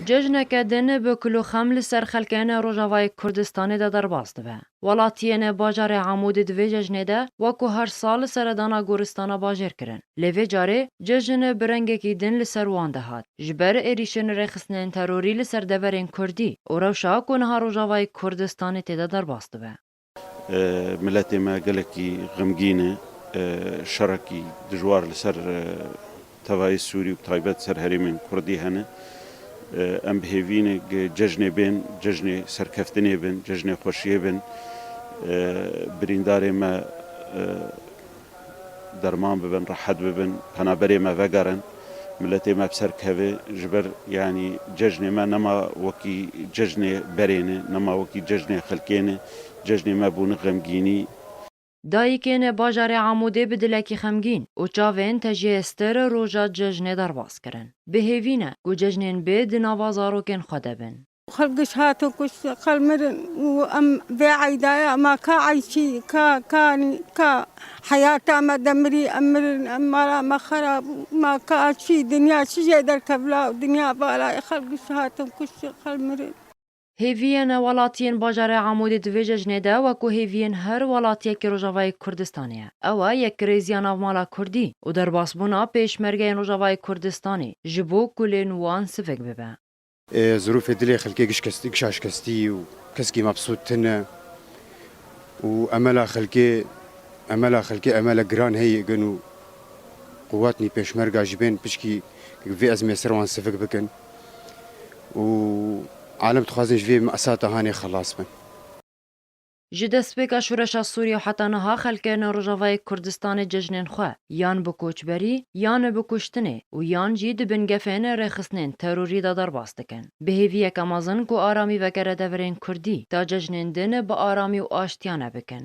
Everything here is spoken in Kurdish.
Cejneke din bi kul û xem li ser xelkên Rojavayê Kurdistanê de derbas dibe. Welatiyên bajarê Amûdê di vê cejnê de wek ku her sal seredana goristana bajêr kirin. Lê vê carê cejn bi rengekî din li ser wan de hat. Ji ber êrîşên rêxistinên terorî li ser deverên Kurdî û rewşa ku niha Rojavayê Kurdistanê tê de derbas dibe. Miletê me gelekî xemgîn e. Şerekî dijwar li ser tevayê Sûrî û bi taybet li ser herêmên Kurdî hene. Em bi hêvî ne ke cejnê bên, cejnê serkeftinê bin, cejnê xweşiyê bin. Birîndarê me. derman bibin, rehet bibin, penaberê me vegerin, miletê me bi ser keve, ji ber yanî cejnê me nema wekî cejnê berên e, nema wekî cejnê xelkên e, cejnê me bûne xemgînî. Dayikên li bajarê Amûdê bi dilekî xemgîn û çavên tejiyê stir roja cejnê derbas kirin. Bi hêvî ne ku cejnên bê di nava zarokên xwe de bin. Xelk giş hatin kuştin, xelk mirin û em vê eyda ye ma ka eyşî, ka kanî, ka heyata me de mirî, em mirin, em mala me xera bû, ma ka çî, dinya çi jê derkevin law, dinya vala ye, xelk giş hatin kuştin, xelk mirin. Hêviyên welatiyên bajarê Amûdê di vê cejnê de wekû hêviyên her welatiyekî Rojavayê Kurdistanê ye. Ew e yekirêziya navmala Kurdî û derbasbûna pêşmergeyên Rojavayê Kurdistanê ji bo kulên wan sivik bibe. Zirûfê dilê xelkê gişa şikestî û keskî mebsût tine û emela xelkê emela xelkê emela giran heye gen û quwatnî pêşmerga ji bên piçkî ke vê ezmê ser wan sivik bikin û alem dixwazin ji vê esata hanê xelas bin. Ji destpêka şoreşa Sûriyê û heta niha xelkê li Rojavayê Kurdistanê cejnên xwe yan bi koçberî, yan bi kuştinê û yan jî di bin gefên rêxistinên terorî de derbas dikin. Bi hêviyeke mezin ku aramî vekere deverên kurdî, ta cejnên din bi aramî û aştiyane bikin.